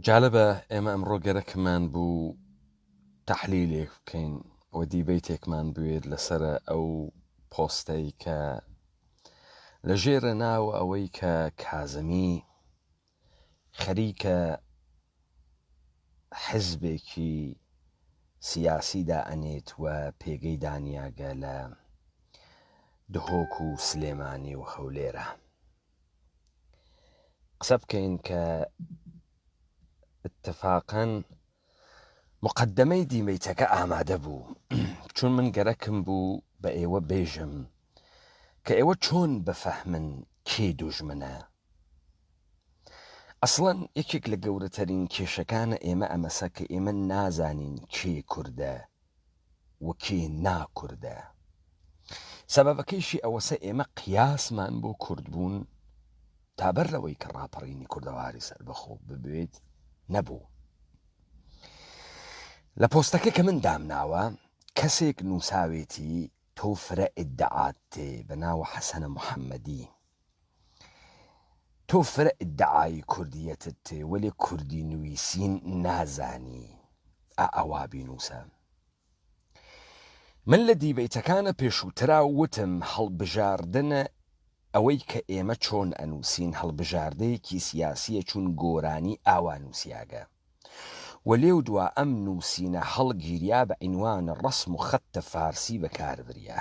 جالبە ئێمە ئەمڕۆ گەرەکمان بوو تحلیلێک بکەین و دیبیتێکمان بوێت لەسەر ئەو پۆستەی کە لە ژێرە ناو ئەوەی کە کازمی خەریکە حزبێکی سیاسی دائەنێت و پێگەی دانیاگە لە دهۆک و سلێمانی و هەولێرە قسە بکەین کە اتفاقەن مقدمەی دیمەیتەکە ئامادە بوو چون من گەرەکم بوو بە ئێوە بێژم کە ئێوە چۆن بفەهمن کێ دوژمنە ئەسڵەن یەکێک لە گەورەتەرین کێشەکانە ئێمە ئەمەسە کە ئێمە نازانین کێ کوردە و کێ ناکوردە سەبەبەکەیشی ئەوەسە ئێمە قیاسمان بۆ کوردبوون تابەر لەوەی کە ڕاپەڕینی کوردەواری سەربەخۆ ببێت نەبوو لە پۆستەکە کە من دامناوە کەسێک نووساوێتی تۆ فرە ئیدعات تێ بە ناوە حەسەنە محەممەدی تۆ فرە ئیدعای کوردیەتت تێ وەلێ کوردی نویسین نازانی ئا ئەوا بینوسە. من لە دیبەیتەکانە پێشووترا وتم هەڵبژاردنە ئەوەی کە ئێمە چۆن ئەنووسین هەڵبژاردەیەکی سیاسیە چون گۆرانی ئاوا نووسیاگە و لێو دوا ئەم نووسینە هەڵگیریا بە عینوان ڕسم و خەتتە فارسی بەکاربریا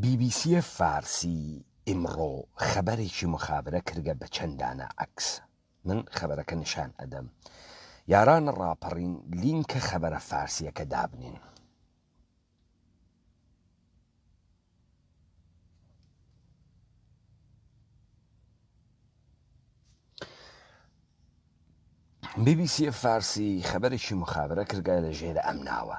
بی بی سی فارسی، ئیمڕۆ خەبەرێکی مخابرە کردگە بە چەن دانە عەکس. من خەبەرەکە نیشان ئەدەم. یارانە ڕاپەڕین لینکە خەبەرە فارسیەکە دابنێن. بی بی سی فارسی، خەبەرێکی مخابرە کردگە لە ژێرە ئەم ناوە.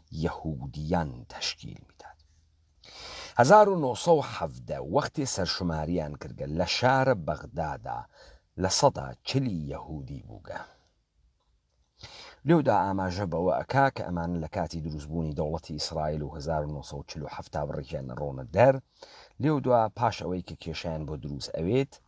یەهودییان تەشکیل میداد. هەزار و نۆ سەد و حەڤدە وەختێ سەرشماریان کردگە لە شارە بەغدادا لە سەدا چلی یەهودی بووگە. لێودا ئاماژە بەوە ئەکا کە ئەمانە لە کاتی دروست بوونی دەوڵەتی ئیسرائیل و هەزار و نۆ سەد و چل و حەفت تا بڕیکیان ئەڕۆنە دەر، لێودوا پاش ئەوەی کە کێشەیان بۆ دروست ئەوێت،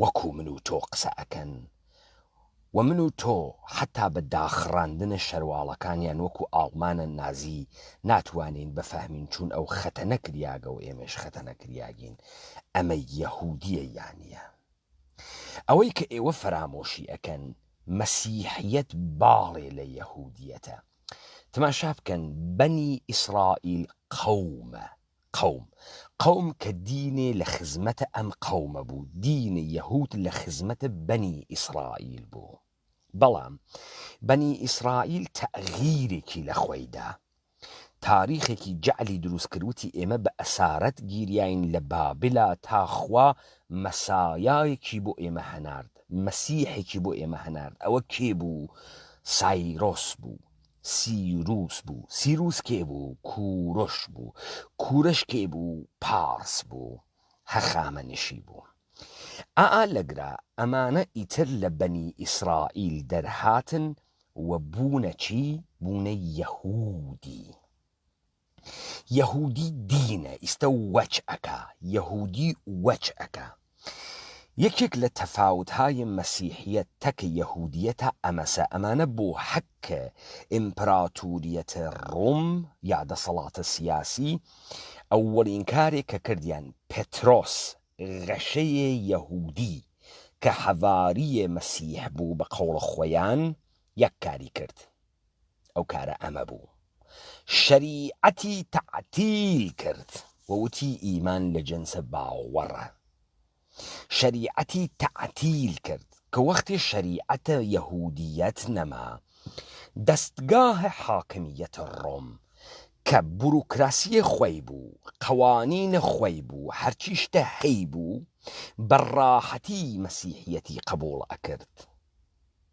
وەکو من و تۆ قسە ئەکەن و من و تۆ حەتا بە داخڕاندنە شەرواڵەکانیان وەکو ئاڵمانە نازی ناتوانین بفهمین چون ئەو خەتە نەکریاگە و ئێمەش خەتە نەکریاگین ئەمە یەهودیە یانە ئەوەی کە ئێوە فەرامۆشی ئەکەن مەسیحیەت باڵێ لە یەهودیەتە تماشا بکەن بەنی ئیسرائیل قەومە قوم قوم کە دینێ لە خزمەتە ئەم قومە بوو دینێ یەهود لە خزمەتە بەنی ئیسرائیل بوو بەڵام بەنی ئیسرائیل تەغیرێکی لە خۆی دا تاریخێکی جەعلی دروست کرد وتی ئێمە بە ئەسارەت گیریاین لە بابلا تا خوا مەسایایەکی بۆ ئێمە هەنارد مەسیحێکی بۆ ئێمە هەنارد ئەوە کێ بوو سایرۆس بوو سیروس بوو، سیروس کێ بوو؟ کوورش بوو، کوورش کێ بوو؟ پارس بوو، هەخامەنشی بوو. ئاا لەگرا ئەمانە ئیتر لە بەنی ئیسرائیل دەرهاتن و بوونە چی؟ بوونە یەهوودی. یەهودی دینە ئیستە وەچ ئەکا یەهودی وەچ ئەکا یەکێک لە تەفاوت های مەسیحیە تەک یەهودیە تا ئەمەسە ئەمانە بۆ حەک ئیمپراتوریەت ڕوم یا دەسەڵاتە سیاسی ئەوەڵین کارێک کە کردیان پترۆس غەشەیە یەهودی کە حەڤاریە مەسیح بوو بە قەوڵە خۆیان یەک کاری کرد ئەو کارە ئەمە بوو شەریعەتی تەعتیل کرد و وتی ئیمان لە جنسە باوەڕە شەریعەتی تەعتیل کرد کە وەختی شەریعەتە یەهودیەت نەما دەستگاه حاکمیەت ڕۆم کە بوروکراسیە خۆی بوو قەوانینە خۆی بوو هەرچی شتە هەی بوو بە ڕاحەتی مەسیحیەتی قبوڵ ئەکرد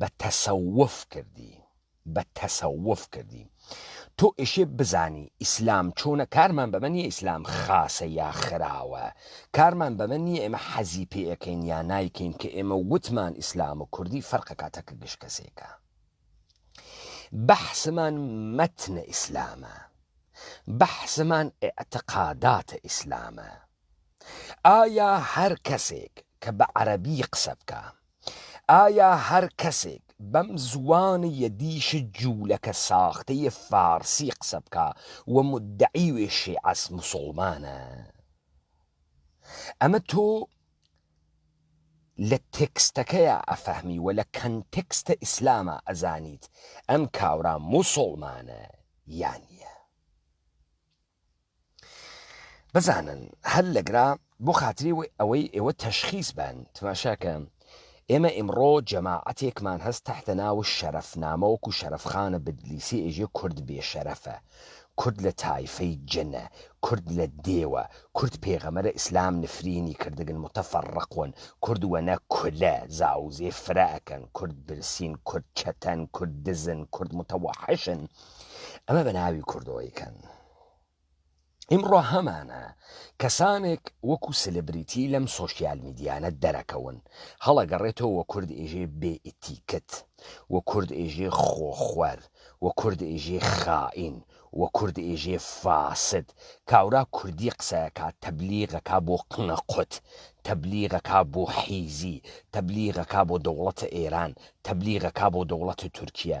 بە تەسەوف کردی بە تەسەوف کردی تۆ ئێشێ بزانی ئیسلام چۆنە کارمان بەمە نیە ئیسلام خاسە یا خراوە کارمان بەمە نیە ئێمە حەزی پێ ئەکەین یا نایکەین کە ئێمە وتمان ئیسلام و کوردی فەرقە کاتەکە گشت کەسێکە بەحسمان مەتنە ئیسلامە بەحسمان ئەعتقاداتە ئیسلامە ئایا هەر کەسێک کە بە عەرەبی قسە بکە ئایا هەر کەسێک بەم زوانەیە دیش جوولەکە ساختەیە فارسی قسە بکا و مدعی وێ شێعەس مسوڵمانە ئەمە تۆ لە تێکستەکەیە ئەفەهمی و لە کەنتێکستە ئیسلامە ئەزانیت ئەم کاورا موسڵمانە یانە بزانن هەر لەگرا بۆ خاتری ئەوەی ئێوە تەشخیس بن تماشاکە ئێمە ئیمڕۆ جەماعەتێکمان هەست تحتە ناو شەرەف نامەوەکو شەرفخانە بدلیسی ئێژێ کورد بێشەرەفە کورد لە تایفەی جنە کورد لە دێوە کورد پێغەمەرە ئیسلام نفرینی کردگن متەفەڕقون کورد وەنە کولە زاوزێ فرە ئەکەن کورد برسین کورد چەتەن کورد دزن کورد متەوەحشن ئەمە بە ناوی کوردەوەی کەن ئیمڕۆ هەمانە کەسانێک وەکو سلبریتی لەم سۆشیال میدیانە دەرەکەون هەڵەگەڕێتەوە وە کورد ئێژێ بێئتیکت و کورد ئێژێ خۆخوەر و کورد ئێژێ خائین و کورد ئێژێ فاسد کاورا کوردی قسەکە تەبلیغەکە بۆ قنە قوت تەبلیغەکە بۆ حیزی تەبلیغەکە بۆ دەوڵەتە ئێران تەبلیغەکە بۆ دەوڵەتە تورکیا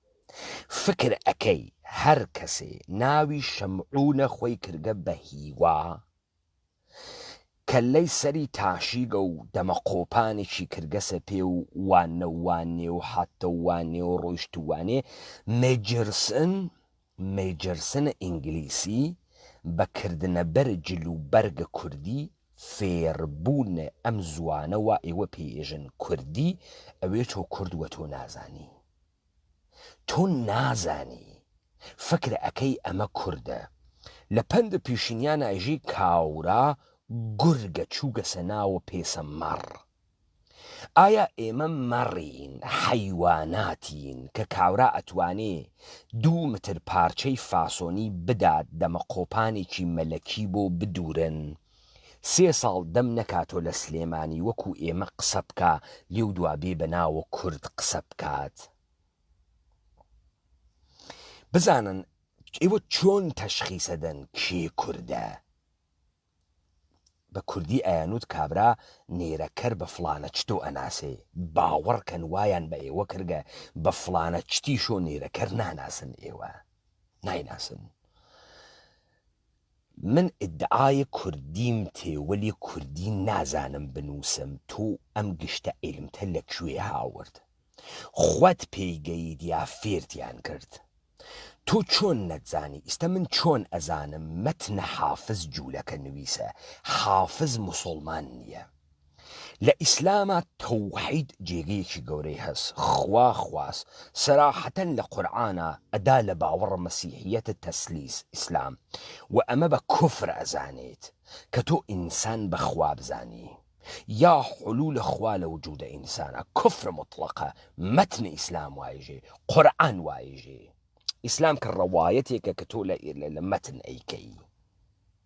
فکر ئەکەی هەر کەسێ ناوی شەمعونە خۆی کردگە بە هیوا کەللەی سەری تاشیگە و دەمە قۆپانێکی کردگەسە پێ و وانە و وانێ و هاتتە و وانێ و ڕۆیشت و وانێ مێجرسن مێجرسن ئینگلیسی بە کردنە بەر جل و بەرگە کوردی فێر بوونە ئەم زوانە وا ئێوە پێ ئێژن کوردی ئەوێ تۆ کورد وە تۆ نازانی. تۆ نازانی فکر ئەکەی ئەمە کوردە لە پەند پیشینیان ئەژی کاورا گورگە چوگەسە ناوە پێسە مەڕ ئایا ئێمە مەڕین حەیواناتین کە کاورا ئەتوانێ دوو متر پارچەی فاسۆنی بدات دەمە قۆپانێکی مەلەکی بۆ بدورن سێ ساڵ دەم نەکاتۆ لە سلێمانی وەکو ئێمە قسە بکا لێو دوا بێ بە ناوە کورد قسە بکات بزانن ئێوە چۆن تەشخیسە دەن کێ کوردە بە کوردی ئەیانوت کابرا نێرەکەر بە فلانە چتۆ ئەناسێ باوەڕکەن وایان بە ئێوە کردگە بە فلانە چتیشۆ نێرەکەر ناناسن ئێوە نایناسن من ئیدعای کوردیم تێ وەلی کوردی نازانم بنوسم تۆ ئەم گشتە عیلمتە لە کوێ هاورد خوت پێی گەیت یا فێرتیان کرد تۆ چۆن نەتزانی ئیستە من چۆن ئەزانم مەتنە حافز جولەکە نویسە حافز موسولمان نیە. لە ئیسلاما تەوحید جێگەیەکی گەورەی هەس خوا خواس سەراحەتەن لە قورعانا ئەدا لە باوەڕ مەسیحیەتە تەسلیس ئیسلام وە ئەمە بە کوفر ئەزانێت کە تۆ ئینسان بە خوا بزانی یا حلول خوا لە وجود ئینسانا کوفر موتڵەقە مەتن ئیسلام وایژێ قورعان وایژێ ئیسلام کە ڕەوایەتێکە کە تۆ لە مەتن ئەیکەی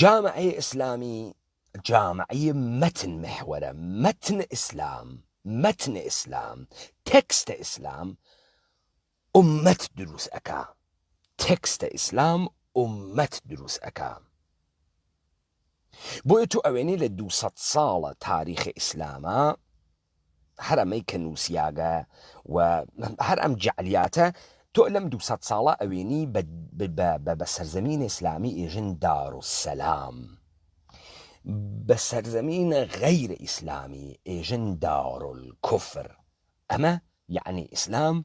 جامعەی ئیسلامی جامعەی مەتن محوەرە مەتن ئیسلام مەتن ئیسلام تێکستە ئیسلام ئومەت دروست ئەکا تێکستە ئیسلام ئومەت دروست ئەکا بۆیە تو ئەوێنی لە دو ساڵە تاریخی ئیسلامە هەر ئەمەی کە نووسیاگە و هەر ئەم جەعلیاتە تۆ لەم دوو سەد ساڵە ئەوێنی بە سەرزەمینە ئیسلامی ئێژن دارولسەلام، بە سەرزەمینە غەیرە ئیسلامی ئێژن دارولکوفر، ئەمە یەعنی ئیسلام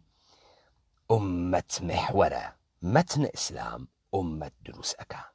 ئوممەت محوەرە، مەتنە ئیسلام ئوممەت دروست ئەکا.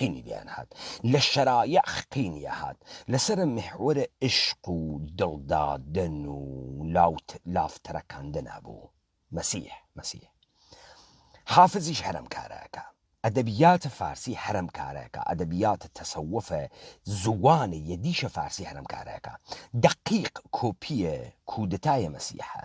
قینی لێیان هات لە شەرایح قینی یەهات لەسەر محوەرە ئیشق و دڵ دادن و لاوت لاف ترەکاندن ئەبوو مەسیح مەسیح حافزیش هەرەم کارەکە ئەدەبیاتە فارسی هەرەم کارەکە ئەدەبیاتە تەسەوفە زووانە یەدیشە فارسی هەرەم کارەکە دەقیق کۆپیە کودەتایە مەسیحە.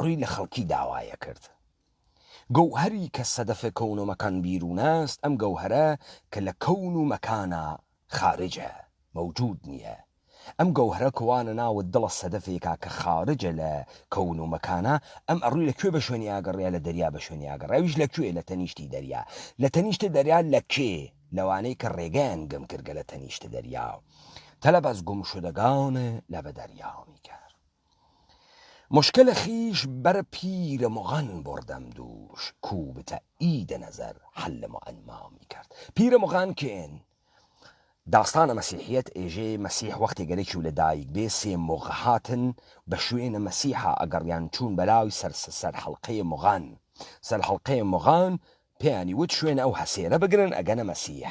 ڕوی لە خەڵکی داوایە کرد. گەوهەری کە سەدەفە کەون و مەکان بیروناست ئەم گەوهەرە کە لە کەون و مەکانا خارجە، مەوجود نیە. ئەم گەوهەرە کە وا نەناوت دڵە سەدەفێکا کە خارجە لە کەون و مەکانا، ئەم ئەڕوی لە کوێ بە شوێنی ئاگەڕیا لە دەریا بە شوێنی ئاگەڕا ئەویش لە کوێ لە تەنیشتی دەریا لە تەنیشت دەریا لە کێ لەوانەی کە ڕێگەیان گم کردگە لە تەنیشت دەریا تەلەبەس گم شدگان لە بە دەریا میکەر. مشکل خیش بر پیر مغان بردم دوش کو به تایید نظر حل معما می کرد پیر مغان کێن؟ داستان مەسیحیەت ئێژێ مەسیح وەختێ گەلێکی و لە دایک بێ سێ مغ هاتن بە شوێنە مەسیحا ئەگەڕیان چوون بەلاوی سەر سەر حەڵقەێ مغان سەر حەڵقەێ مغان پێیانی وت شوێنە ئەو هەسێرە بگرن ئەگەنە مەسیح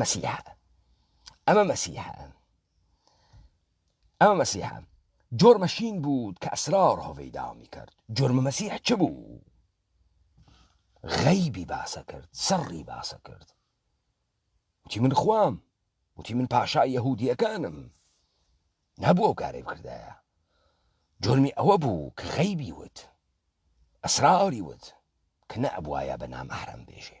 مەسیحا ئەمە مەسیحا ئەمە مەسیحا جۆر مەشین بوود کە ئەسرار هۆڤی دامی کرد جۆرمە مەسیح چ بوو غەیبی باسە کرد سەڕی باسە کرد وتی من خوام وتی من پاشا یەهودیەکانم نەبوو ئەو کارەی بکردایە جۆرمی ئەوە بوو کە غەیبی وت ئەسراوری وت کە نە ئەبواە بە نامەحرم بێژێ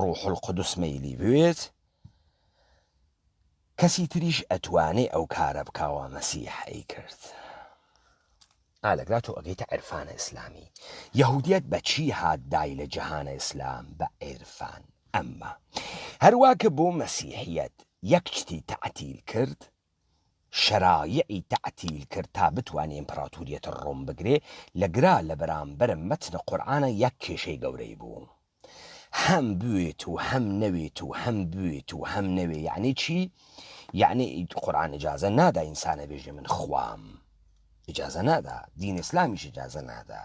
ڕوح القدس مەیلی بوێت کەسی تریش ئەتوانێ ئەو کارە بکاوە مەسیح ئەی کرد ئالەگرا تۆ ئەگەیتە عرفانە ئیسلامی یهودیت بە چی هات دای لە جهانە ئیسلام بە عێرفان ئەمما هەروا کە بۆ مەسیحیت یەک شتی تەعتیل کرد شەرایعی تەعتیل کرد تا بتوانێ ئیمپراتوریەت ڕۆم بگرێ لە گرا لە بەرامبەر مەتن قورعانە یەک کێشەی گەورەی بوو هەم بوێت و هەم نەوێت و هەم بوێت و هەم نەوێ یعنی چی یعنی قورعان ئجازە نادا ئینسانە بێژێ من خوام ئجازە نادا دین ئسلامیش ئجازە نادا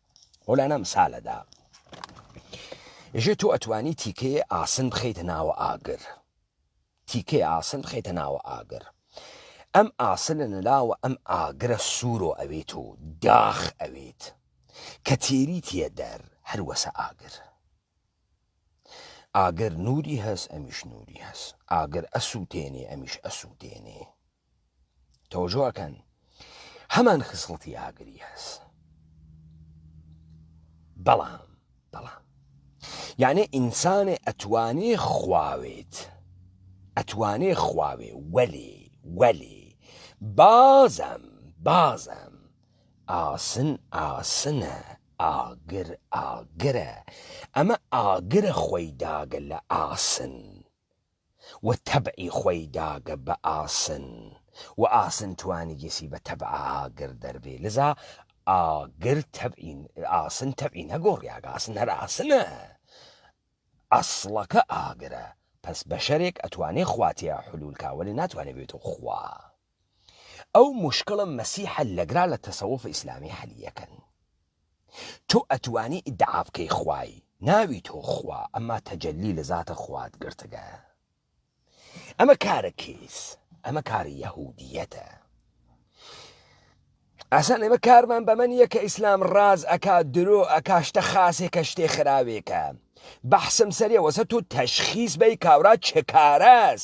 و لەنەم سالەدا ژێ تۆ ئەتوانی تیکەیە ئاسن بخیتە ناوە ئاگر تیکەی ئاسن بخیتە ناوە ئاگر ئەم ئاسنە نەلاوە ئەم ئاگرە سوورۆ ئەوێت و داخ ئەوێت کە تێری تێ دەر هەروەسە ئاگر ئاگر نوری هەس ئەمیش نوری هەس ئاگر ئەسووتێنێ ئەمیش ئەسووتێنێ تەوجۆ ئەکەن هەمان خسڵتی ئاگری هەست بەڵام بەڵام یانێ ئینسانێ ئەتوانێ خواوێت ئەتوانێ خواوێ وەلێ وەلێ بازم بازم ئاسن ئاسنە ئاگر ئاگرە ئەمە ئاگرە خۆی داگە لە ئاسن و تەبعی خوەی داگە بە ئاسن و ئاسن توانیگسی بە تەبع ئاگر دەربێ لزا ئاگر تەبعی ئاسن تەبعی نەگۆڕیاگ ئاسن هەر ئاسنە ئەسڵەکە ئاگرە پەس بەشەرێک ئەتوانێ خوا تیا حلول کا وەلێ ناتوانێ بێتەو خوا ئەو موشکڵە مەسی حەل لەگرا لە تەسەوف ئیسلامی حەلی یەکەن تۆ ئەتوانی ئیدعا بکەی خوای ناوی تۆ خوا ئەما تەجەلی لە زاتە خوات گرتگە ئەمە کارە کیس ئەمە کاری یەهودیەتە ئەسان ئێمە کارمان بەمەن یەکە ئیسلام ڕاز ئەکا درۆ ئەکاشتە خاسێکە شتێ خراوێکە بەحسم سەرەوەسە تۆ تەشخیس بەی کاورا چکارەس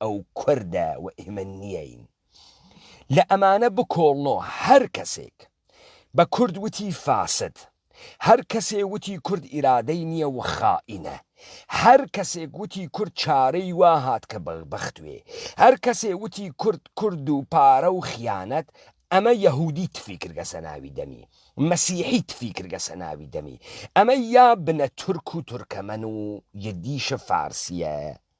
ئەو کوردە و ئێمە نیین لە ئەمانە بکۆڵنۆ هەر کەسێک بە کورد وتی فاسد هەر کەسێ وتی کورد ئیرادەی نییە و خائینە هەر کەسێک وتی کورد چارەی وا هات کە بە بەختوێ هەر کەسێ وتی کورد کورد و پارە و خیانەت ئەمە یەهودی تفی کرگە سەناوی دەمی مەسیحی تفی کرگە سەناوی دەمی ئەمە یا بنە تورک و تورکەمەن و یدیشە فارسیە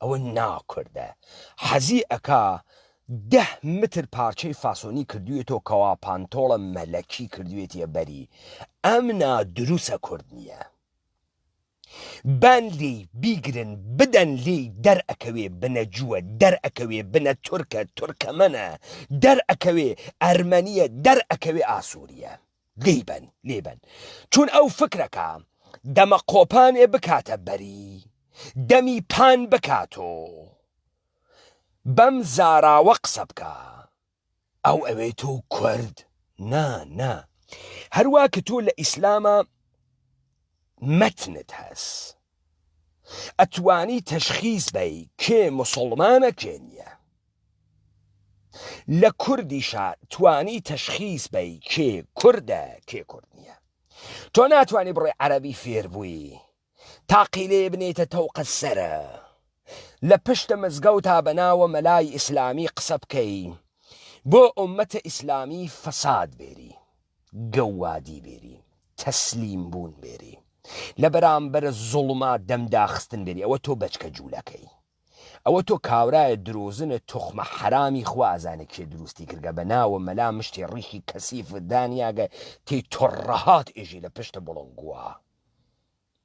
ئەوە نا کوردە حەزی ئەکا دە متر پارچەی فاسۆنی کردویەتۆ کەوا پانتۆڵە مەلەکی کردوێتیە بەری ئەم نا دروسە کورد نیە بان لێی بیگرن بدەن لێی دەر ئەکەوێ بنە جووە دەر ئەکەوێ بنە تورکە تورکەمەنە دەر ئەکەوێ ئەرمەنیە دەر ئەکەوێ ئاسوریە لیبن لیبن چون ئەو فکرەکە دەمە قۆپانێ بکاتە بەری دەمی پان بکاتۆ بەم زاراوە قسە بکە ئەو ئەوێ تۆ کورد نا نا هەروە کە تۆ لە ئیسلامە مەتنت هەس ئەتوانی تەشخیس بەی کێ مسوڵمانە کێ نییە لە کوردیشا توانی تەشخیس بەی کێ کوردە کێ کورد نییە تۆ ناتوانانی بڕێ عەربی فێربووی تاقی لێ بنێتە تەوقە سرە لە پشتە مزگەوتا بەناوە مەلای ئیسلامی قسە بکەی بۆ ئومەتە ئیسلامی فەساد بێری گەووادی بێری، تەسلیم بوون بێری، لە بەرامبەر زوڵما دەم داخستن بێری، ئەوە تۆ بەچکە جوولەکەی، ئەوە تۆ کاورایە درۆزنە توخمە حەرامی خوا ئەزانێ کێ دروستی کردگە بە ناوە مەلا مشتی ڕیشی کەسیفت دانیاگە تێی تڕڕهات ئێژی لە پشت بڵنگوە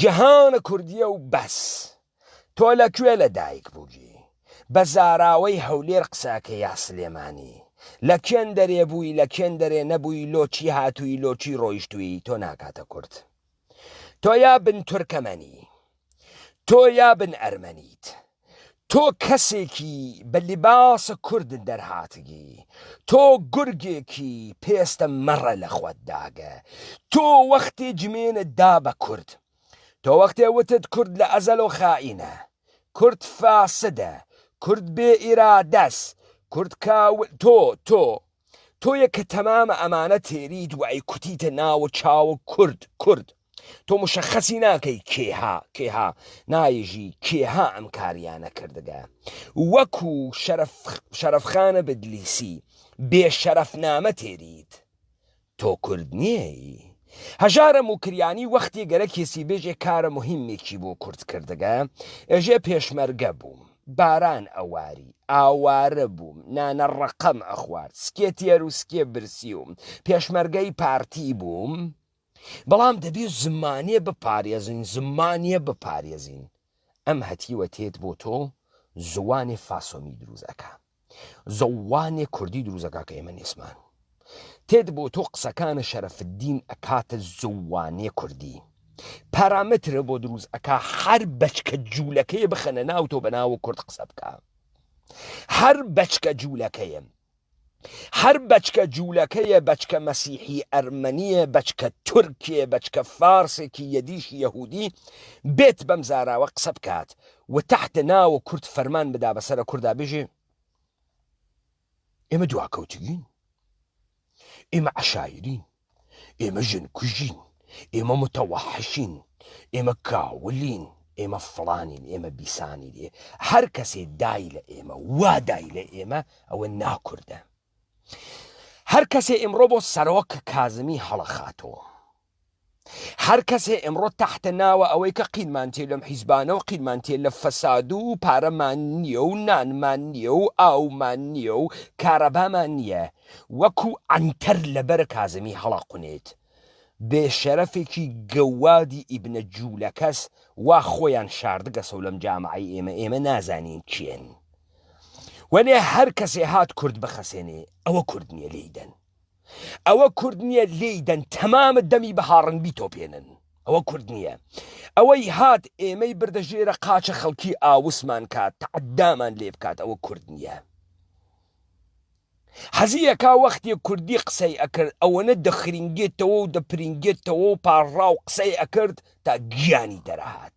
جهان کوردیە و بەس. تۆ لە کوێ لە دایک بووی؟ بە زاراوەی هەولێر قسەکەی یا سلێمانی؟ لە کێن دەرێ بووی لە کێن دەرێ نەبووی لۆ چی هاتووی لۆ چی ڕۆیشتووی تۆ ناکاتە کورد تۆ یا بن تورکەمەنی تۆ یا بن ئەرمەنیت تۆ کەسێکی بە لیباسە کورد دەرهاتگی تۆ گورگێکی پێستە مەڕە لە خوت داگە تۆ وەختی جمێنە دا بە کورد تۆ وەختێ وتت کورد لە ئەزەل و خائینە کورد فاسدە کورد بێ ئیرادەس کورد کاول تۆ تۆ تۆیە کە تەمامە ئەمانە تێریت وە ئەیکوتیتە ناوە چاوە کورد کورد تۆ مشەخەسی ناکەی کێها کێها نایژی کێها ئەم کاریانە کردگە وەکو شەرف شەرفخانە بدلیسی بێ شەرف نامە تێریت تۆ کورد نیەیی هەژارە موکریانی وەختی گەرەک کیسی بێژێ کارە موهیمێکی بۆ کورد کردگە ئێژێ پێشمەرگە بووم باران ئەواری ئاوارە بووم نانە ڕەقەم ئەخوارد سکێ تێر و سکێ برسیوم پێشمەرگەی پارتی بووم بەڵام دەبێ زمانێ بپارێزین زمانێ بپارێزین ئەم هەتیوە تێت بۆ تۆ زووانێ فاسۆمی درووست ئەکا. زووانێ کوردی درووست ئەکا کە ئێمە نێسمان تێت بۆ تۆ قسەکانە شەرەفدین ئەکاتە زووانێ کوردی پارامترە بۆ دروست ئەکا هەر بەچکە جوولەکەی بخەنە ناو تۆ بەناوە کورد قسە بکە هەر بەچکە جوولەکەیم هەر بەچکە جوولەکەیە بەچکە مەسیحی ئەرمەنیە بەچکە تورکێ بەچکە فارسێکی یەدیش یەهودی بێت بەم زاراوە قسە بکات و تحت ناوە کورد فەرمان بدا بەسەرە کوردا بژێ ئێمە دواکەوتگین ئێمە عشایرین ئێمە ژن کوژین ئێمە متەوەحشین ئێمە کاولین ئێمە فڵانین ئێمە بیسانی لێ هەر کەسێ دای لە ئێمە وا دای لە ئێمە ئەوە ناکوردە هەر کەسێ ئمڕۆ بۆ سەرۆک کازمی هەڵەخاتەوە هەر کەسێ ئمڕۆ تەحتە ناوە ئەوەی کە قیلمان تێ لەم حیزبانە و قیلمان تێ لە فەساد و پارەمان نییە و نانمان نییە و ئاومان نییە و کارەبامان نییە وەکو عەنتەر لە بەرە کازمی هەڵاقونێت بێ شەرەفێکی گەووادی ئیبنە جوولەکەس وا خۆیان شاردگەسەو لەم جامعەی ئێمە ئێمە نازانین کێن وەلێ هەر کەسێ هات کورد بخەسێنێ ئەوە کورد نییە لێیدەن. ئەوە کورد نییە لێی دەن تەمامە دەمی بە هاڕن بیتۆپێنن ئەوە کورد نییە ئەوەی هات ئێمەی بردە ژێرە قاچە خەڵکی ئاوسمان کات تەعدامان لێ بکات ئەوە کورد نییە حەزیەکە وەختی کوردی قسەی ئەکرد ئەوەنە دەخرینگێتەوە و دەپرینگێتەوە و پاڕا و قسەی ئەکرد تا گیانی دەرەهات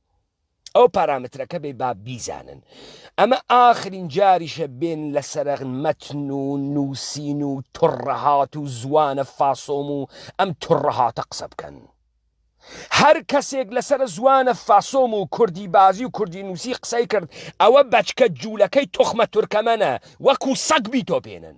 ئەو پارامترەکە بێ با بیزانن ئەمە ئاخرین جاریشە بێن لە سەرەغ مەتن و نووسین و تڕەهات و زوانە فاسۆم و ئەم تڕەهاتە قسە بکەن هەر کەسێک لەسەر زوانە فاسۆم و کوردی بازی و کوردی نووسی قسەی کرد ئەوە بەچکە جوولەکەی تخمە تورکەمەە وەکو سەگ بیتۆپێنن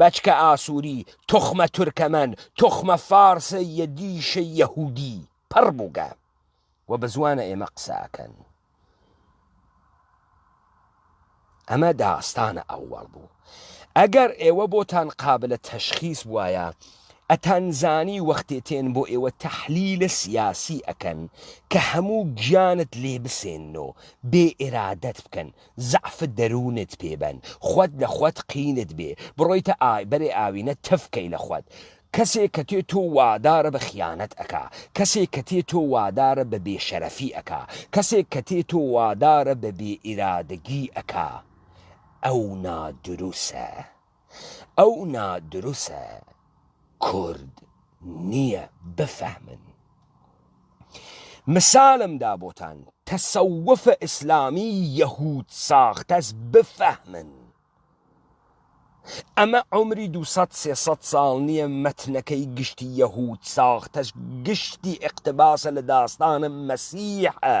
بەچکە ئاسوری توخمە تورکەمەن توخمە فارسە یەدیشە یەهودی پەڕ بوگە وە بەزوانە ئێمە قسە ئەکەن ئەمە داستانە ئەوەڵ بوو ئەگەر ئێوە بۆتان قابلە تەشخیس وایە ئەتانزانی وەختێ تێن بۆ ئێوە تەحلیلە سیاسی ئەکەن کە هەموو گیانت لێ بسێنەوە بێ ئێرادەت بکەن زەعف دەروونت پێ بەن خوت لە خوت قینت بێ بڕۆیتە ئای بەرێ ئاوینە تف کەی لە خوت کەسێ کە تێ تۆ وادارە بە خیانەت ئەکا کەسێ کە تێ تۆ وادارە بە بێ شەرەفی ئەکا کەسێ کە تێ تۆ وادارە بە بێ ئیرادەگی ئەکا ئەو نادروسە. ئەو نا دروسە کورد نیە بفەهمن مسالم دا بۆتان تەسەوف اسلامی یەهود ساختەس بفەهمن ئەمە عمری دوو سەد سێ سەد سال نیە مەتنەکەی گشتی یەهود ساختەس گشتی اقتباسە لە داستانە مەسیحە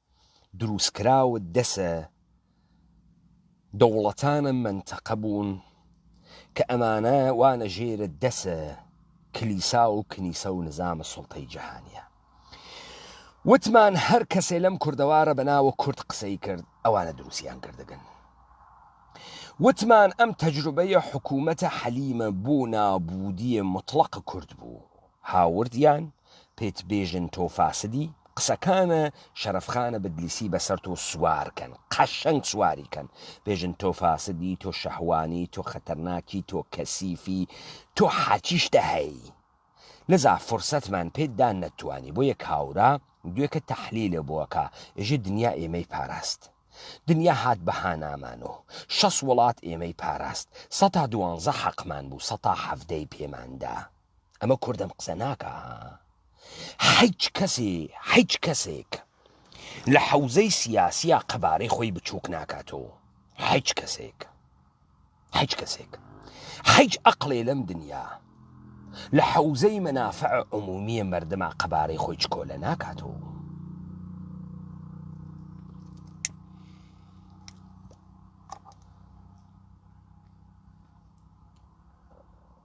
دروستکراو دەسە دەوڵەتانە مەنتەقە بوون کە ئەمانە وانە ژێرە دەسە کلیسا و کنیسە و نزامە سڵتەی جیهانیە وتمان هەر کەسێ لەم کوردەوارە بەناوە کورد قسەی کرد ئەوانە دروستیان کردگەن وتمان ئەم تەجروبەیە حکوومەتە حەلیمە بۆ نابودیە مطلق کورد بوو هاورد یان پت بێژن تۆ فاسدی قسەکانە شەرەف خانە بدلیسی بەسەر تۆ سوار کەن قەشەنگ سواری کەن بێژن تۆ فاسدی تۆ شەهوانی تۆ خەتەرناکی تۆ کەسیفی تۆ حاچیش تە هەی لزا فرسەتمان پێت دا نەتوانی بۆ یە کاورا دوێکە تەحلیلە بۆ کە ئێژێ دنیا ئێمەی پاراست دنیا هات بەهانامان و شەس وڵات ئێمەی پاراست سەتا دوانزە حەقمان بوو سەتا حەڤدەی پێمان دا ئەمە کوردم قسە ناکا حیچ کەسێ حیچ کەسێک لە حەوزەی سیاسیە قەبارەی خۆی بچووک ناکاتەوە حیچ کەسێک حیچ کەسێک حیچ ئەقلێ لەم دنیا لە حەوزەی مەنافع عمومیە مردما قەبارەی خۆی چکۆ لە ناکاتەوە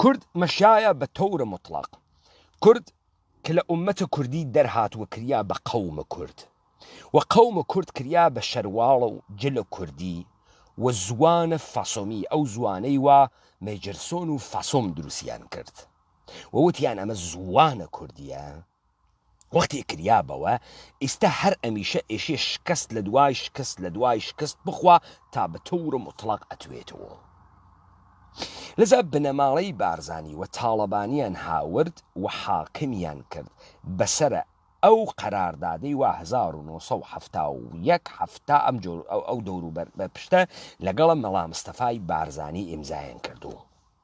کورد مەشایە بە تەور موتڵەق کورد ک لە ئومەت کوردی دەرهات و کریا بە قەوم کورد و قەوم کورد کریا بە شەرواڵ و جل کوردی و زوان فاسۆمی ئەو زوانەی وا مێجرسۆن و فاسۆم دروسیان کرد و وتیان ئەمە زوانە کوردیە وەختی کریا بەوە ئیستا هەر ئەمیشە ئێشێ شکەست لە دوای شکست لە دوای شکست بخوا تا بە تەورە موتڵەق ئەتوێتەوە لەزە بنەماڵەی بارزانی و تاڵەبانیان هاورد و حاکمیان کرد بەسەرە ئەو قەراردادەی وا هەزار و نۆ سەد و حەفتا و یەک حەفتا ئەم جۆر ئەو دەوروبەر بە پشتە لەگەڵە مەڵامستەفای بارزانی ئیمزایان کردوو.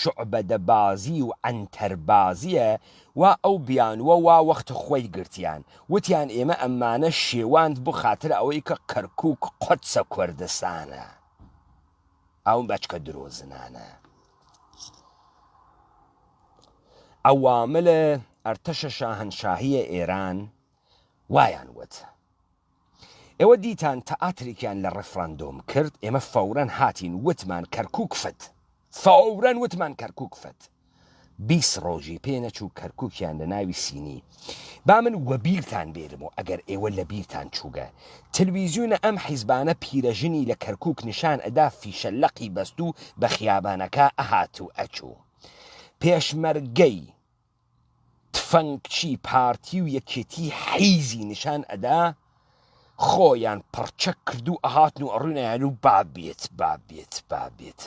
شوعبەدە بازی و عەنتەر بازیە وا ئەو بیانووە وا وەخت خۆی گرتیان وتیان ئێمە ئەمانە شێواند بۆ خاتر ئەوەی کە کەرکوک قۆدسە کۆردستانە ئەو بەچکە درۆزنانە عەواملە ئەرتەشە شاهەنشاهیە ئێران وایان وت. ئێوە دیتان تئاتریکیان لە ڕفراندۆم کرد ئێمە فەورەن هاتین وتمان کەرکوک فت فەورەن وتمان کەرکوک فت بیست ڕۆژی پێ نەچوو کەرکوکیان لە ناوی سینی با من وەبیرتان بێرم و ئەگەر ئێوە لە بیرتان چووگە تلویزیونە ئەم حیزبانە پیرەژنی لە کەرکوک نیشان ئەدا فیشە لەقی بەستوو بە خیابانەکا ئەهات و ئەچوو پێشمەرگەی تفەنگچی پارتی و یەکێتی حیزی نیشان ئەدا خۆیان پڕچەک کردو ئەهاتن و ئەڕوینایان و بابێت بابێت بابێت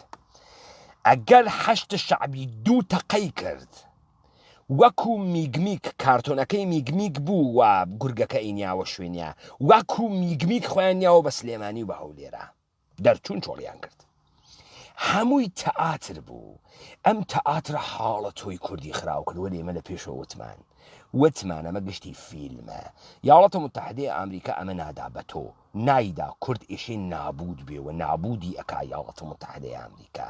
ئەگەر حەشت شعبی دوو تەقەی کرد وەکو میگمیک کارتۆنەکەی میگمیک بوو و گورگەکە ئینیاوە شوێنیا وەکو میگمیک خۆیان نیاوە بە سلێمانی و بە هەولێرە دەرچوون چۆڵیان کرد هەمووی تەئاتر بوو ئەم تەئاترە حاڵە تۆی کوردی خراو کرد وەێ ئمە لە پێشەوە وتمان وتمان ئەمە گشتی فیلمە یاڵەتە متحدەی ئامریکا ئەمە نادا بە تۆ نایدا کورد ئیشی نابود بێ و نابودی ئەک یاڵەتە متحدەی ئامریکا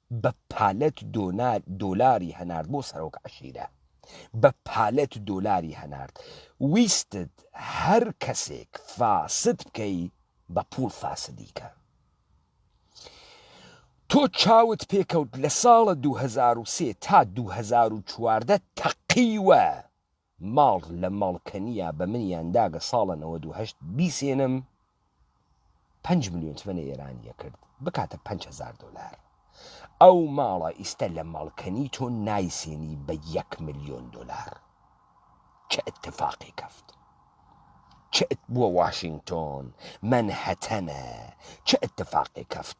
بە پالەت دۆنار دۆلاری هەنارد بۆ سەرۆک عەشیرە بە پالەت دۆلاری هەنارد ویستت هەر کەسێک فاسد بکەی بە پوڵ فاسدی کە تۆ چاوت پێکەوت لە ساڵە دوو هەزار و سێ تا دوو هەزار و چواردە تەقیوە ماڵ لە ماڵ کەنیا بە منیان داگە ساڵە نەوەد و هەشت بیسێنم پەنج ملیۆن تمەنە ئێرانیە کرد بکاتە پەنج هەزار دۆلار ئەو ماڵە ئیستە لە ماڵ کەنی تۆ نایسێنی بە یەک ملیۆن دۆلار چ اتفاقی کەفت چ بووە واشنگتۆن من هەتەنە چ اتفاقی کەفت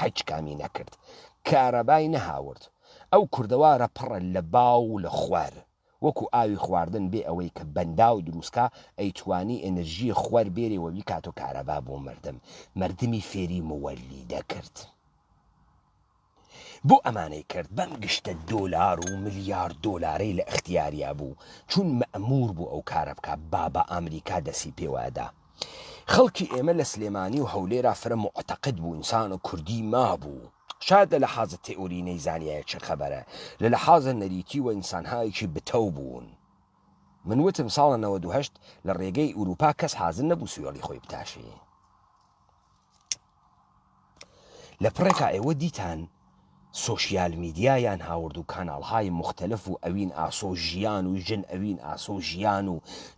هەچ کامی نەکرد کارەبای نەهاورد ئەو کوردەوارە پڕە لە باو و لە خوەر وەکو ئاوی خواردن بێ ئەوەی کە بەنداو دروستکا ئەیتوانی ئێنرژی خوەر بێرێ وە بیکاتۆ کارەبا بۆ مردم مردمی فێری موەلیدە کرد بۆ ئەمانەی کرد بەم گشتە دۆلار و ملیار دۆلارەی لە ئختیاریا بوو چون مەئمور بوو ئەو کارە بکا بابا ئامریکا دەسی پێوەئەدا. خەڵکی ئێمە لە سلێمانی و هەولێرا فرە موعتەقد بوو ئینسانە کوردی مابوو شاید لە لەحازە تئوری نەیزانیایە چ خەبەرە لە لەحازە نەریتی وە ئینسانهایەکی بتەو بوون من وتم ساڵە نەوەد و هەشت لە ڕێگەی ئوروپا کەس حازر نەبوو سوێڵی خۆی بتاشێ. لە پڕێکا ئێوە دیتان سۆشیال میدیا یان هاوردو کاناڵ های موختەلف و ئەوین ئاسۆ ژیان و ژن ئەوین ئاسۆ ژیان و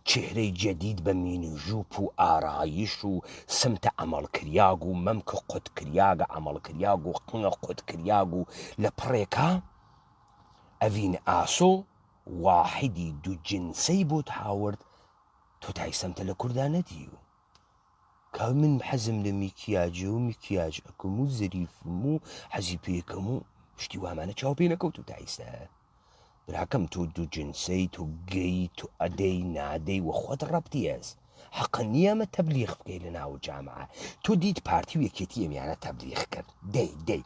چهرەی جدید بە مینوژوپ و ئارایش و سمتە عەمەڵ کریاگ و مەمک قوت کریاگە عەمەڵ کریاگ و قنگ قوت کریاگ و لە پڕێکا ئەوین ئاسۆ واحدی دو جنسەی بۆت هاورد تۆ تای سمتە لە کوردا نەدیو. کاک من حەزم لە میکیاجە و میکیاج ئەکم و زەریفم و حەزی پێکەم و شتی وامانە چاو پێ نەکەوت و تایستا براکەم تۆ دوو جنسەی تۆ گەی تۆ ئەدەی نادەی وە خۆت ڕەبتیێز حەقە نییەمە تەبلیغ بکەی لە ناو جامعە تۆ دیت پارتی و یەکێتی ئەمیانە تەبلیغ کرد دەی دەی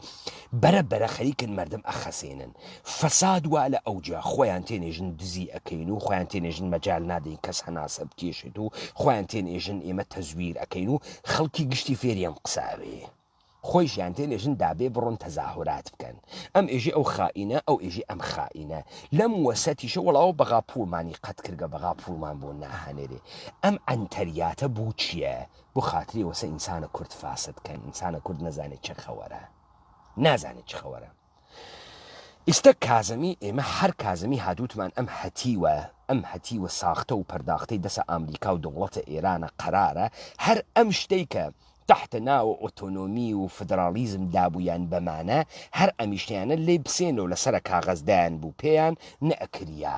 بەرە بەرە خەریکن مردم ئەخەسێنن فەساد وا لە ئەوجە خۆیان تێنێژن دزی ئەکەین و خۆیان تێنێژن مەجال نادەین کەس هەناسە بکێشێت و خۆیان تێنێژن ئێمە تەزویر ئەکەین و خەڵکی گشتی فێری ئەم قساوێ خۆیشیان تێنێژن دابێ بڕۆن تەزاهورات بکەن ئەم ئێژی ئەو خائینە ئەو ئێژی ئەم خائینە لەم وەسەتیشە وەڵاوە بەغا پووڵمانی قەت کردگە بەغا پووڵمان بۆ ناهەنێرێ ئەم عەنتەریاتە بوو چییە بۆ خاتری وەسە ئینسانە کورد فاسد کەن ئینسانە کورد نەزانێت چە خەوەرە نازانێت چ خەوەرە ئیستا کازمی ئێمە هەر کازمی هادووتمان ئەم هەتیوە ئەم هەتیوە ساختە و پەرداختەی دەسە ئامریکا و دەوڵەتە ئێرانە قەرارە هەر ئەم شتەی کە تحتە ناوە ئۆتۆنۆمی و فدرالیزم دابوویان بەمانە هەر ئەمیشتیانە لی بسێنەوە لەسرە کاغەزدایان بوو پێیان نەکریا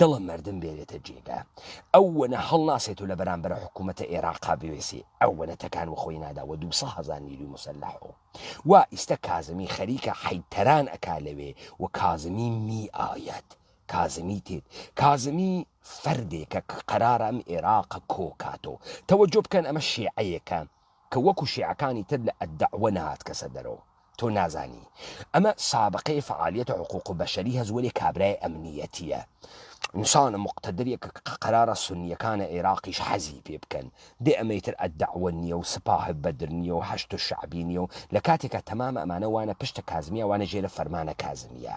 دڵە مەردم بێرێتە جێگا ئەو وەنە هەڵناسێت و لە بەرامبەر حکوومەتە ئێراقا بوێسێ ئەو وەنە تەکان و خۆی نادا وە دووسە هەزار نیروی مسلح و وا ئیستە کازمی خەریکە حەید تەران ئەکا لەوێ و کازمی می ئایەت کازمی تێت کازمی فەردێکە ک قەرارە ئەم ئێراقە کۆ کاتۆ تەوەجۆ بکەن ئەمە شێعەیەکە کە وەکو شیعەکانی تر لە الدعوە نەهاتکەسە دەرەوە تۆ نازانی ئەمە سابقەی فعالیەتە حقوق بەشەری هەس وەلێ کابرای ئەمنیەتیە انسانە مقتەدرێکە کە قەرارە سونیەکانە ئێراقیش حەزی پێ بکەن دێ ئەمەی تر الدعوە نیە و سپاه بدر نیە و حەشد الشعبی نیە و لە کاتێکا تەمامە ئەمانە وانە پشتە کازمیا وانە ژێرە فەرمانە کازمیا.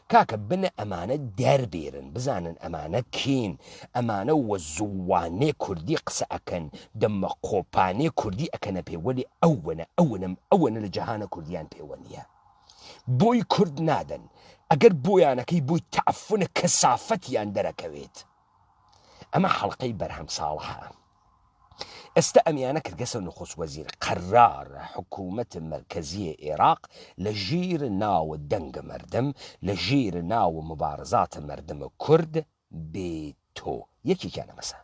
کاکە بنە ئەمانە دەربێرن بزانن ئەمانە کێن ئەمانە وە زووانێ کوردی قسە ئەکەن دەمە قۆپانێ کوردی ئەکەنە پێ وەلێ ئەوەنە ئەوەنەم ئەوەنە لە جەهانە کوردیان پێوە نیە بۆی کورد نادەن ئەگەر بۆیانەکەی بووی تەعفنە کەسافەتیان دەرەکەوێت ئەمە حەڵقەی بەرهەم ساڵحە ئێستا ئەم یانە کردگەسە نخوست وەزیر، قەرارە حکوومەت مەرکەزیی ئێراق لە ژیر ناو دەنگ مەردم، لە ژیر ناو موبارزات مەردم کورد بێتۆ. یەکێکیان ئەمەسە.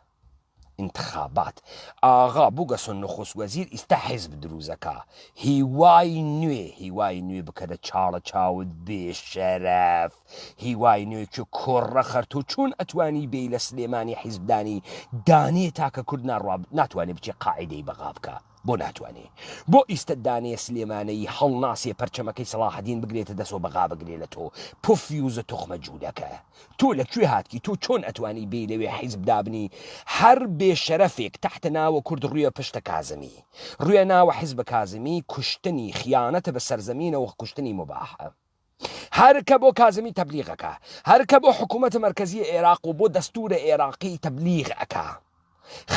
ئینتخابات. ئاغا بووگەسە نخوست وەزیر ئیستا حیزب درووس ئەکا. هیوای نوێ، هیوای نوێ بکەدە چاڵە چاوت بێ شەرەف. هیوای نوێ کۆڕە خەرتۆ چۆن ئەتوانی بێی لە سلێمانی حیزب دانی دانێ تاکە کورد ناڕواب ناتوانێ بچێ قاعدەی بەغا بکە بۆ ناتوانێ بۆ ئیستە دانێ سلێمانەی هەڵ ناسێ پەرچەمەکەی سەڵاحەدین بگرێتە دەسۆ بەغا بگرێ لە تۆ پف یوزە تخمە جوولەکە تۆ لە کوێ هاتکی تۆ چۆن ئەتوانی بێی لەوێ حیزب دابنی هەر بێ شەرەفێک تحتە ناوە کورد ڕویە پشتە کازمی ڕویە ناوە حیزبە کازمی کوشتنی خیانەتە بە سەرزەمینەوە کوشتنی مباحە. هەر کە بۆ کازمی تەبلیغ ئەکا، هەر کە بۆ حکوومەتە مەرکەزییە ئێراق و بۆ دەستوورە ئێراقی تەبلیغ ئەکا،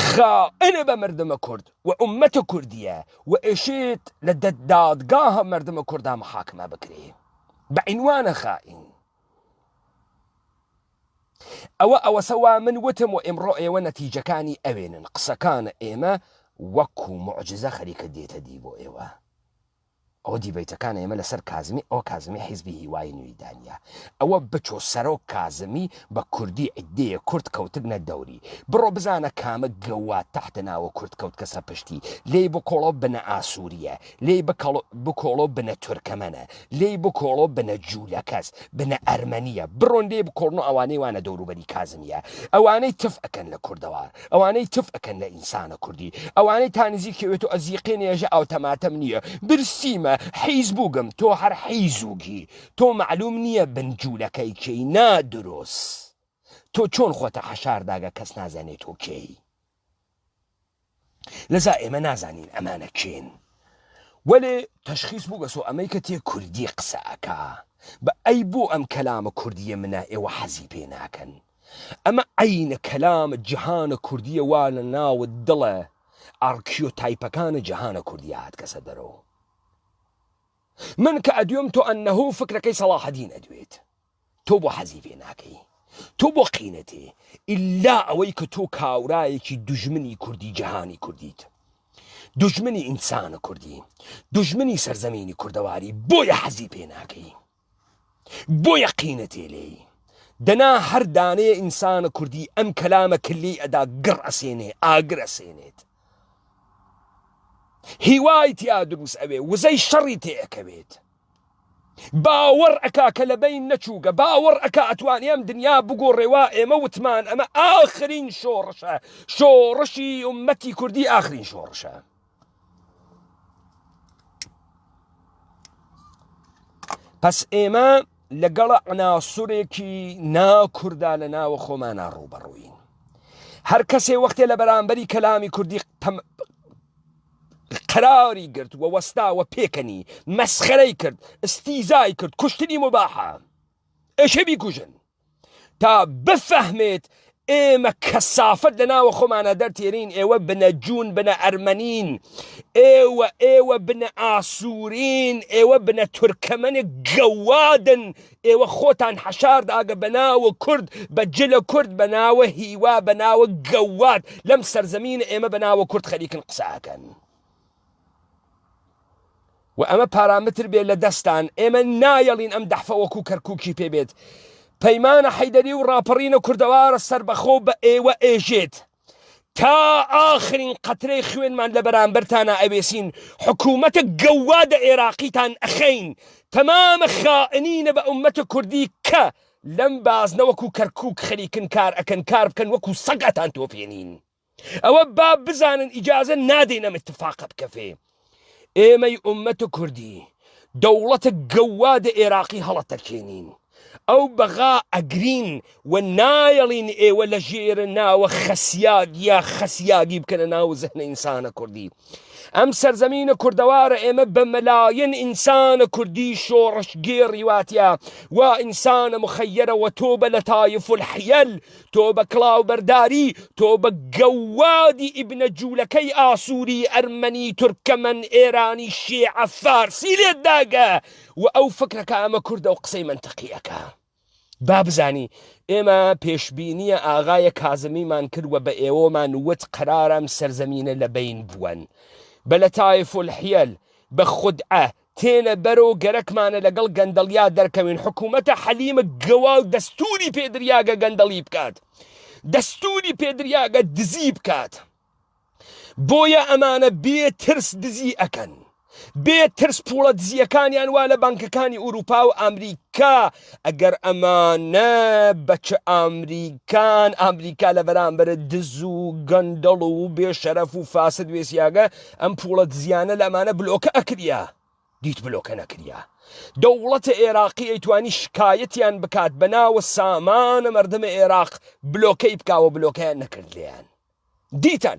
خائنە بە مەردمە کورد و ئوممەتە کوردییە و ئەشێت لە دە دادگاهە مەردمە کوردا محاکمە بکرێ بە عینوانە خائین. ئەوە ئەوەسە وا من وتم و ئیمڕۆ ئێوە نەتیجەکانی ئەوێنن قسەکانە ئێمە وەکو معجزە خەریکە دێتە دی بۆ ئێوە ئەوە دیبەیتەکان ئێمە لەسەر کازمی ئەوە کازمی حیزبی هیوای نوێی دانیە ئەوە بچۆ سەرۆک کازمی بە کوردی عیدەیە کورد کەوتبنە دەوری بڕۆ بزانە کامە گەواد تەحتە ناوە کورد کەوت کەسە پشتی لێی بکۆڵۆ بنە ئاسووریە لێی بکەڵ بکۆڵۆ بنە تورکەمەنە لێی بکۆڵۆ بنە جوولەکەس بنە ئەرمەنیە بڕۆن لێی بکۆڵنۆ ئەوانەی وانە دەوروبەری کازمیە ئەوانەی تف ئەکەن لە کوردەوە ئەوانەی تف ئەکەن لە ئینسانە کوردی ئەوانەی تانزیکی وێت و ئەزیقێ نێژە ئاوتەماتەم نییە برسیمە حیز بووگم تۆ هەر حیزوگی تۆ معلوم نییە بن جوولەکەی کێی نا دروس تۆ چۆن خۆتە حەشارداگە کەس نازانێت تۆ کێی لەزا ئێمە نازانین ئەمانە کێن وەێ تەشخیص بوو بەسۆ ئەمەی کە تێ کوردی قسە ئەکا بە ئەی بۆ ئەم کەلامە کوردیە منە ئێوە حەزی پێ ناکەن ئەمە عەینە کەلامە جیهانە کوردیە وا لە ناوت دڵە ئارکیۆتایپەکانە جیهانە کوردیە هاتکەسە دەرەوە من کە ئەدوێم تۆ ئەنەهو فکرەکەی سەڵاحەدین ئەدوێت تۆ بۆ حەزی پێ ناکەی تۆ بۆ قینەتێ ئللا ئەوەی کە تۆ کاورایەکی دژمنی کوردی جیهانی کوردیت دژمنی ئینسانە کوردی دژمنی سەرزەمینی کوردەواری بۆیە حەزی پێ ناکەی بۆ یەقینە تێ لێی دەنا هەر دانەیە ئینسانە کوردی ئەم کەلامە کلی ئەدا گڕ ئەسێنێ ئاگر ئەسێنێت هیوای تیا دروست ئەوێ وزەی شەڕی تێ ئەکەوێت باوەڕ ئەکا کە لە بین نەچووگە باوەڕ ئەکا ئەتوانی ئەم دنیا بگۆڕێوا ئێمە وتمان ئەمە ئاخرین شۆڕشە شۆڕشی عمەتی کوردی ئاخرین شۆڕشە پس ئێمە لەگەڵ عناسورێکی ناکوردا لە ناوە خۆمانە ڕوبەڕووین هەر کەسێ وەختێ لە بەرامبەری کەلامی کوردی قراری گرت و وەستاوە پێکەنی مەسخەرەی کرد استیزای کرد کوشتنی مباحە ئەشە بیکوژن تا بفەهمێت ئێمە کەسافەت لە ناوە خۆمانە دەرتێنین ئێوە بنە جوون بنە ئەرمەنین ئێوە ئێوە بنە ئاسوورین ئێوە بنە تورکەمەنێک گەوادن ئێوە خۆتان حەشار داگە بە ناوە کورد بە جلە کورد بە ناوە هیوا بە ناوە گەواد لەم سەرزەمین ئێمە بە ناوە کورد خەریکن قساکەن و ئەمە پارامتر بێت لە دەستان ئێمە نایەڵین ئەم دەحفە وەکو کەرکووکی پێ بێت پەیمانە حەیدەری و ڕاپەڕینە کوردەوارە سربەخۆ بە ئێوە ئێژێت تا ئاخرین قەترەی خوێنمان لە بەرامبەرتانە ئەوێسین حکوومەتە گەوادە ئێراقیتان ئەخەین تەمامە خائنینە بە ئومەتە کوردی کە لەم بازنە وەکو کەرکک خەریکن کار ئەکەن کار بکەن وەکو سەگەتان تۆپێنین ئەوە با بزانن ئیجازە نادەین ئەم اتفاقە بکەفێ ئێمەی ئومەت کوردی دەوڵەتە گەوا دە ئێراقی هەڵەتەکێنین ئەو بەغا ئەگرین و نایەڵین ئێوە لە ژێرە ناوە خەسیاگ یا خەسیاگی بکەنە ناو زەهنە ئینسانە کوردی ئەم سەرزەمینە کوردەوارە ئێمە بە مەلایەن ئینسانە کوردی شۆڕش گێڕی واتە وا ئینسانە مخەیەرەوە تۆ بە لە تایف الحیل تۆ بە کلااو بەرداری تۆ بە گەوادی ئیبنە جوولەکەی ئاسووری ئەرمەنی تورکەمەن ئێرانی شێعە فارسی لێت داگە و ئەو فکرەکە ئەمە کوردە و قسەی منتەقیەکە. با بزانی ئێمە پێشبینیە ئاغایە کازمیمان کردوە بە ئێوەمان وت قرارم سەرزەمینە لە بین بوون بە لە تایف الحیل بە خودعە تێنە بەرۆ گەرەکمانە لەگەڵ گەندەڵیا دەرکەوین حکوومەتە حەلیمە گەواو دەستوری پێدریاگە گەندەڵی بکات دەستوری پێدریاگە دزی بکات بۆیە ئەمانە بێ ترس دزی ئەکەن بێ ترس پوڵە دزیەکانیان وا لە بانکەکانی ئوروپا و ئەمریکا ئەگەر ئەمانە بەچ ئامریکان ئامریکا لە بەرامبەر دز و گەندەڵ و بێ شەرەف و فاسد وێسیاگە ئەم پوڵە دزیانە لەمانە بلۆکە ئەکریا دیت بلۆکە نەکریا دەوڵەتە عێراقی ئەیتوانی شکایەتیان بکات بەناوە سامانە مردمە عێراق بلۆکەی بکاوە بلۆکەیان نەکرد لیان دیتان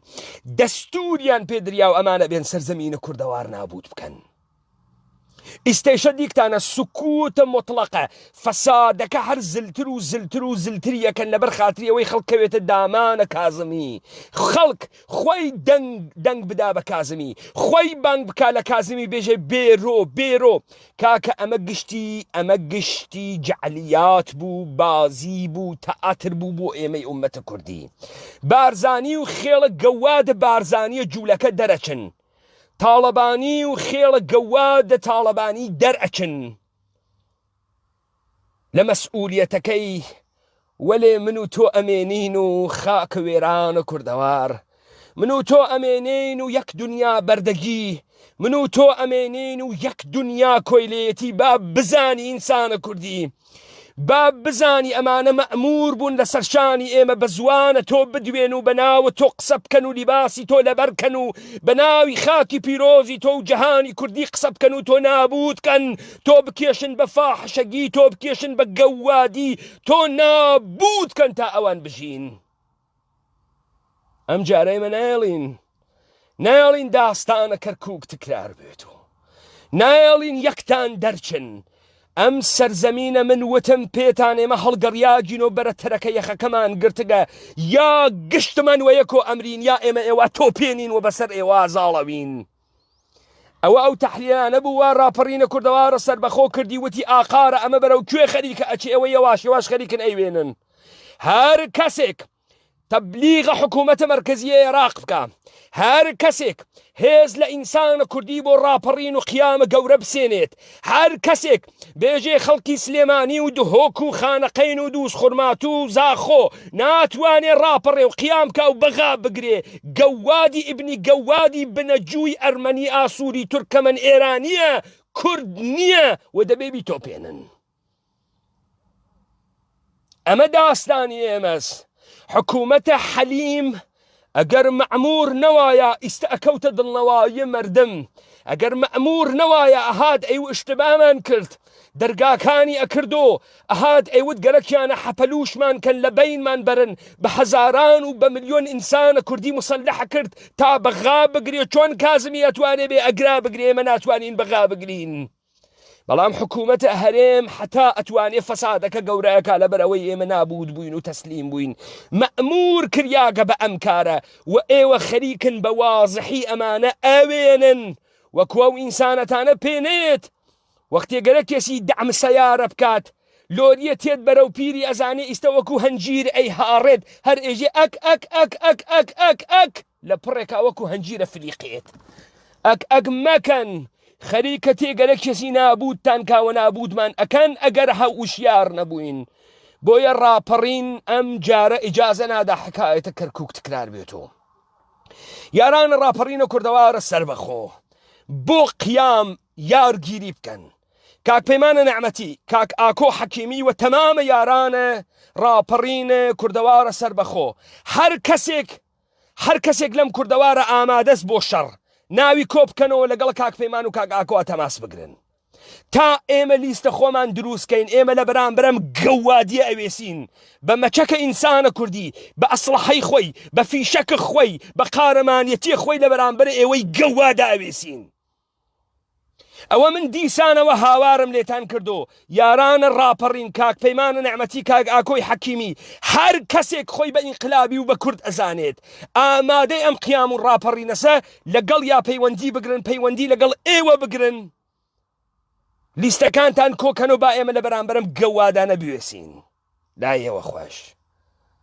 دەستوریان پێ دریاو ئەمانە بێن سەر زەمینە کوردەوار نابوت بکەن ئیستەیشە دیکتانە سکوتە مطلقە فەسادەکە هەر زلتر و زلتر و زلتریەکەن لەبەر خاتریەوەی خەڵکەوێتە دامانە کازمی خەڵک خۆی دەنگ دەنگ بدا بە کازمی خۆی بانگ بک لە کازمی بێژێ بێرۆ بێرۆ کاکە ئەمە گشتی ئەمە گشتی جەعلیات بوو بازی بوو تەئاتر بوو بۆ ئێمەی ئومەتە کوردی بارزانی و خێڵە گەوادە بارزانیە جوولەکە دەرەچن تاڵەبانی و خێڵە گەوادە تاڵەبانی دەرئەچن لە مەسئولیەتەکەی وەلێ من و تۆ ئەمێنین و خاک وێرانە کوردەوار من و تۆ ئەمێنین و یەک دنیا بەردەگی من و تۆ ئەمێنین و یەک دنیا کۆیلێتی با بزانی ئینسانە کوردی با بزانی ئەمانە مەمور بوون لە سەرشانی ئێمە بە زوانە تۆ بدوێن و بە ناوە تۆ قسە بکەن و لیباسی تۆ لەبەرکەن و بە ناوی خاکی پیرۆزی تۆ و جەهانی کوردی قسە بکەن و تۆ نابوتکەن تۆ بکێشن بە فاحشەگی تۆ بکێشن بە گەوادی تۆ نابوت کەن تا ئەوان بژین ئەم جارەی من ناڵین ناڵین داستانە کەرکک تکرار بێت و ناڵین یەکتان دەرچن ئەم سەرزەمینە من وتم پێتان ئێمە هەڵگەڕیاگین و بەرە تەرەکە یەخەکەمان گرتگە یا گشتمان وەیەکۆ ئەمرین یا ئێمە ئێوە تۆپێنین و بەسەر ئێوە زاڵەوین ئەوە ئەو تەحلیلانە بوو وا ڕاپەڕینە کوردەوارە سەربەخۆ کردی وتی ئاقارە ئەمە بەرەو کوێ خەریکە ئەچێ ئەوە یەواش یەواش خەریکن ئەیوێنن هەر کەسێک تەبلیغە حکوومەتە مەرکزیە عێراق بکە هەر کەسێک هێز لە ئینسانە کوردی بۆ ڕاپەڕین و قیامە گەورە بسێنێت هەر کەسێک بێژەی خەڵکی سلێمانی و دهۆک و خانەقین و دووس خورماتوو و زاخۆ ناتوانێ ڕاپەڕێ و قیامکا و بەغا بگرێ گەووادی ئیبنی گەووادی بنە جووی ئەرمەنی ئاسووری تورکەمەن ئێرانییە کورد نییە و دەبێ بیتۆپێنن. ئەمە داستانی ئێمەس حکوومەتە حەلیم ئەگەر مەعمور نەوایە ئیستا ئەکەوتە دڵنەوایی مردم ئەگەر مەمور نەوایە ئەهات ئەی شتبامان کرد دەرگاکانی ئەکردو ئەهات ئەیوت گەلەکیانە حەپەلوشمان کەن لە بینمان برن بە هەزاران و بە ملیۆن ئینسانە کوردی مسلح کرد تا بەغا بگرێ چۆن کازمی ئەتوانێ بێ ئەگرا بگرێمە ناتوانین بەغا بگرین. بەڵام حکوومەتە هەرێم حتا ئەتوانێ فەسادەکە گەورەکە لەبەر ئەوەی ئێمە نابوود بووین و تەسلیم بووین مەمور کریاگە بە ئەم کارە و ئێوە خەریکن بە وازحی ئەمانە ئەوێنن وەکو ئەو ئینسانەتانە پێنێت وەختێ گەرە کێسی دەعم سەیارە بکات لۆریە تێت بەرەو پیری ئەزانێ ئیستە وەکو هەنجیر ئەی هاڕێت هەر ئێژێ ئەک ئەک ئەک ئەک ئەک ئەک ئەک ئەک لە پڕێکا وەکو هەنجیرە فلیقێت ئەک ئەک مەکەن خەریکە تێگەرە کەسی نابووتان کاوە نابووتمان ئەکەن ئەگەر هە وشیار نەبووین بۆیە ڕاپەڕین ئەم جارە ئیجازە نادا حکایەتە کەرکک تکرار بێتەوە یاران ڕاپەڕینە کوردەوارە سربەخۆ بۆ قیام یارگیری بکەن کاک پەیمانە نەعمەتی کاک ئاکۆ حەکیمی و تەمامە یارانە ڕاپەڕینە کوردەوارە سربەخۆ هەر کەسێک هەر کەسێک لەم کوردەوارە ئامادەس بۆ شەڕ ناوی کۆ بکەنەوە لەگەڵ کاک پەیمان و کاک ئاکۆ ئەتەماس بگرن تا ئێمە لیستە خۆمان دروستکەین ئێمە لە بەرامبرم گەوادیە ئەوێسین بە مەچەکە ئینسانە کوردی بە ئەسڵحەی خۆی بە فیشەکە خۆی بە قارەمانەتی خۆی لە بەرامبەر ئێوەی گەوادا ئەوێسین ئەوە من دیسانەوە هاوارم لێتان کردو یارانە ڕاپەڕین کاک پەیمان نەعمەتی کاک ئاکۆی حەکیمی هەر کەسێک خۆی بە ئینقلابی و بە کورد ئەزانێت ئامادەی ئەم قیام و ڕاپەڕینەسە لەگەڵ یا پەیوەندی بگرن پەیوەندی لەگەڵ ئێوە بگرن لیستەکانتان کۆکەن و با ئێمە لە بەرامبەرم گەوادانە بوێسین لایەوە خۆش